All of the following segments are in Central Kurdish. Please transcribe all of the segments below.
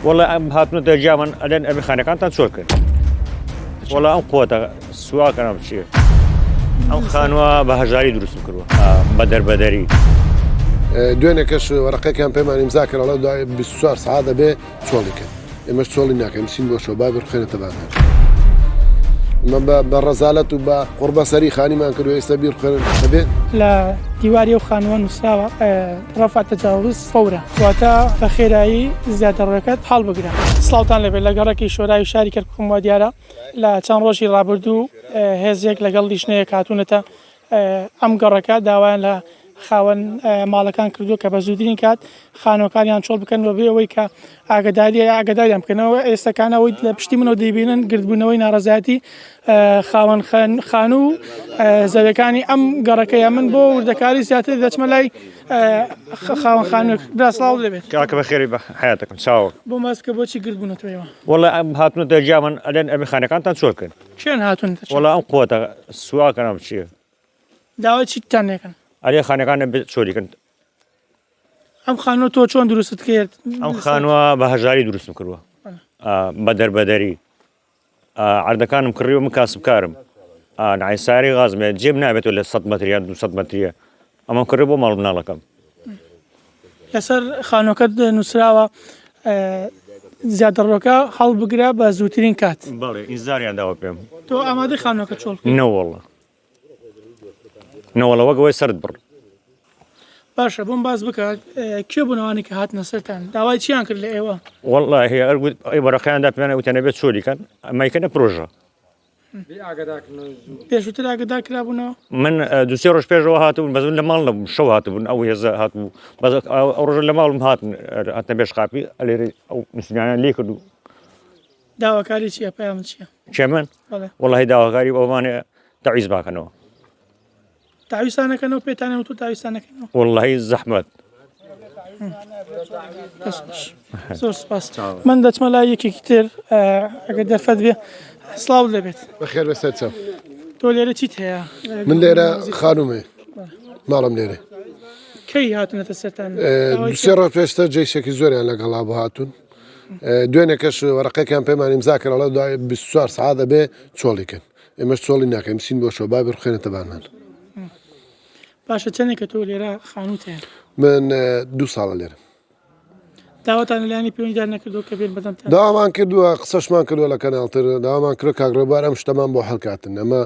وەڵا ئەم هاتنە دەرجامان ئەلێن ئەبێ خانەکانتان چۆل کرد وەڵا ئەم قوتە سواکەم چیە ئەم خانوە بە هەژاری دروست کردوە بە دەربەدەری دوێنێکەش وەرەقەکەیان پێمان ئیمزا کردڵە دوای 24 سعات دەبێ چۆڵی کرد ئێمەش چۆڵی ناکەین چین بۆ شۆ بابر خێنێتە بازار بە ڕزالەت و بە قڕبە سەری خانیمان کرد ئێستا بیر خوێن دەبێت لە دیواری و خانوە نووسراوە ڕفات تەجاوز فورە واتە بە خێرایی زیادەڕۆیەکەت هەڵبگرە. سڵاوتان لەبێت لە گەڕەکی شۆرای شاری کەرکوکم وا دیارە لە چەند ڕۆژی ڕابردوو هێزێک لەگەڵ لیژنەیەک هاتوونەتە ئەم گەڕەکە داوایان لە خاوەن ماڵەکان کردووە کە بە زووترین کات خانووەکانیان چۆڵ بکەن بە بێ ئەوەی کە ئاگەدارییە ئاگەداریان بکەنەوە ئێستەکان ئەوەی لە پشتی منەوە دەیبینن گردبوونەوەی ناڕزایەتی خاوەن خانوو و زەوەکانی ئەم گەڕەکەیە من بۆ وردەکاری زیاتر دەچمە لای خاوەن خانوێک براسڵاو دەبێت کاکە بە خێری بە حیاتەکەم چاو بۆ ماست کە بۆچی گردبوونەتەوەەوە وڵە ئەم هاتنە دەرجیامان ئەلێن ئەبی خانەکانتان چۆل کرد چێن هاتون وڵە ئەم قوتە سواکەم چیە داوای چیتان نێکن ئەلێ خانەکانە چۆریکن ئەم خانوە تۆ چۆن دروست کرد ئەم خانوە بە هەژاری دروستم کردوە بە دەربەدەری عردەکانم کڕی و من کاسبکارم نایساری غازمێ جێب نابێتەوە لە 100 مەتریا 200 مەتریە ئەمە کڕی بۆ ماڵ مناڵەکەم لەسەر خانۆکەت نووسراوە زیادڕۆکە هەڵبگرە بە زووترین کات بەڵێ ئینزاریان داوە پێم تۆ ئامادە خانۆکە چۆڵ نەوەڵە نەوەڵەوە گەوەی سرد بڕ باشە بۆم باس بکە کێ بوون ئەوانی کە هاتنە سەران داوای چیان کرد لە ئێوە والله هەیە ئەرگوت ئەی بەڕەکەیاندا پێیانە وتەنە بێت چۆلیکەن ئەمایکەە پرۆژە پێشوتر ئاگدا کرابوونەوە من دوسێ ڕۆژ پێشەوە هاتبوون بەزن لە ماڵ نەبووم شەو هاتبوون ئەو هێزە هاتبوو بەز ئەو ڕۆژە لە ماڵم هاتن هاتنە بێش قاپی ئەلێری ئەو مسلمانیان لێ کردو داواکاری چیە پەیامت چیە؟ کێ من؟ بەڵێ وەڵاهی داواکاری بەومانێ تەعویز باکەنەوە تاویستانەکەنەوە پێتانە و تو تاویستانەکەنەوە وەڵی زەحمت زۆر سپاس من دەچمە لای یەکێکی تر ئەگەر دەرفەت بێ سلااو دەبێت بەخێر بەسەر چە تۆ لێرە چیت هەیە من لێرە خانومێ ماڵم لێرە کەی هاتنەتە سەران سێ ڕۆ پێشتە جێشێکی زۆریان لەگەڵا بۆ هاتوون دوێنێ کەش وەرەقەکان پێمان ئیمزا کرد ئەڵێ دوای 24 سعات ئەبێ چۆڵی کرد ئێمەش چۆڵی ناکەین بچین بۆ شۆ بابێ بخێنێتە بانمان باشە چەندێک کە تۆ لێرە خانوت هەیە من دوو ساڵە لێرە داواتان لەلایانی پێوەندیدار نەکردو کە بێن بەدەم داوامان کردووە قسەشمان کردووە لە کەناڵتر داوامان کرد کاگرۆبار ئەم شتەمان بۆ هەڵکاتن ئەمە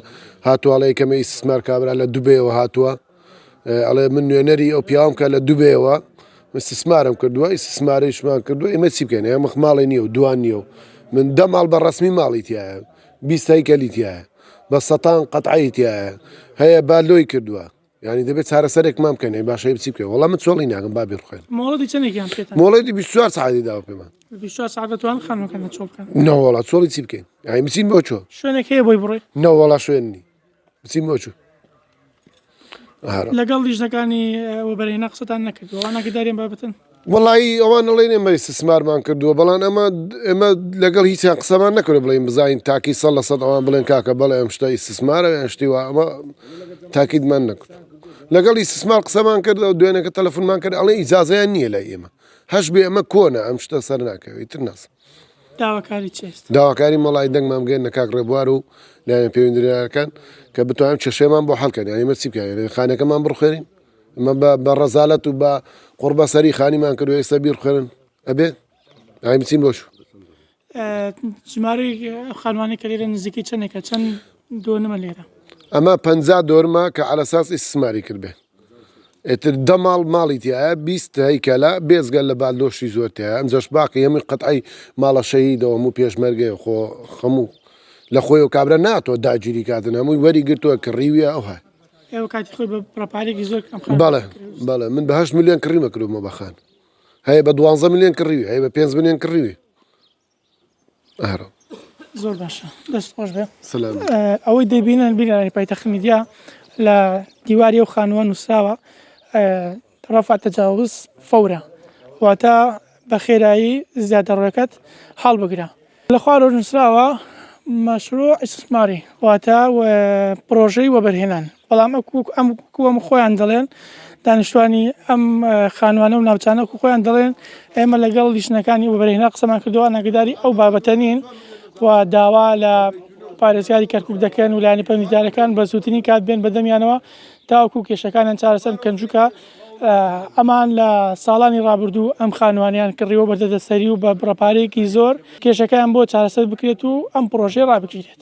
هاتوواڵەیە کەمە ئیسمار کابرا لە دوبێەوە هاتووە ئەڵێ من نوێنەری ئەو پیاوم کە لە دوبێەوە استثمارم کردووە استثمارشمان کردو ئێمە چی بکەین ئێمە ماڵی نیە و دوان نیە و من دە ماڵ بە ڕسمی ماڵی تایە بیستایی کەلی تایە بە سەتان قەتعی تایە هەیە با لۆی کردووە ینی دەبێت چارەسەرێک مام بکەن باشە بچی بکە وڵام من چۆڵی ناگەم با بخێن مۆڵەتی چەندێکیان پێ مۆڵەتی 24 ساعتی داوە پێمان نەوەڵا چۆڵی چی بکەین ئای بچین بۆ چۆ شوێنێک هەیە بۆی بڕێ نەوەڵا شوێننی بچین بۆ چوو لەگەڵ لیژنەکانی وەبەرهێنا قسەتان نەکردەوە ناگەداریم بابەتن وڵایی ئەوان نڵێن ئێمە سسمارمان کردووە بەڵام ئەمە ئێمە لەگەڵ هیچیان قسەمان نەکرد بڵین بزین تاکی سە لە سەد ئەوان بڵێن کاکە بەڵێ ئەم شتە ئیسسمارە یان شتیوە ئەمە تاکیدمان نەکرد لەگەڵ ئیسسمار قسەمان کرد و دوێنەکە تەلەفونمان کرد ئەڵێ ئیجاازیان نییە لای ئێمە هەش بێ ئەمە کۆنە ئەم شتە سەر ناکەوێت تر ناسم داواکاری چی ئێستا؟ داواکاری مەڵای دەنگمان بگەێنە کاک ڕێبوار و لایەن پەیوەندیدارەکان کە بتوانن کێشەیەمان بۆ حەڵکەن یانی ئێمە چی بکەین یانی خانەکەمان بڕخوێنین ئەمە بە بە ڕەزالەت و بە قوڕبەسەری خانیمان کرد و ئێستا بیرخوێنن ئەبێ ئای بچین بۆش ئە، ژمارەی ئەو خانوانەی کە لێرە نزیکەی چەندێکە چەند دۆنمە لێرە ئەمە پەنجا دۆرمە کە على اساس ئیسماری کردبێ ئیتر دە ماڵ ماڵی تیایە بیست هەیکەلە بێجگە لە بالدۆشی زۆر تیایە ئەمجاش باقی هەمووی قەتعەی ماڵە شەهیدەو هەموو پێشمەرگەیە خۆ هەموو لە خۆیەوە کابرا ناتوە داگیری کاتن هەمووی وەری گرتوە کڕیویە ئەو هەر ئێوە کاتی خۆی بە پڕەپارێکی زۆر ئەم خانە بەڵێ کردووە. بەڵێ من بە هەشت ملیۆن کڕیمە کرۆمە بەخان هەیە بە دوانزە ملیۆن کڕیوی هەیە بە پێنج ملیۆن کڕیوی ئەهرەم. زۆر باشە دەست خۆش بێ سلام ئەوەی دەبینن بینەرانی پایتەخت میدیا لە دیواری و خانووە نووسراوە ڕفع تجاوز فورا واتە بە خێرایی زیادەڕەکەت هەڵبگرە لە خوارەوە نووسراوە مەشروع استثماری واتە و پرۆژەی وەبەرهێنان بەڵام وەکو ئەم وەکو ئەم خۆیان دەڵێن دانیشتوانی ئەم خانوانە و ناوچانە وەکو خۆیان دەڵێن ئێمە لەگەڵ لیژنەکانی وبەرهێنا قسەمان کردووە ئەگەداری ئەو بابەتە نین و داوا لە پارێزگاری کەرکک دەکەن و لایانی پەیوەندیدارەکان بە زووترین کات بێن بەدەمیانەوە تاوەکو کێشەکانیان چارەسەر بکەن چونکە ئەمان لە ساڵانی ڕابردوو ئەم خانوانیان کڕیوە بە دەدەسەری و بە بڕەپارێکی زۆر کێشەکەیان بۆ چارەسەر بکرێت و ئەم پرۆژەی ڕابگیرێت.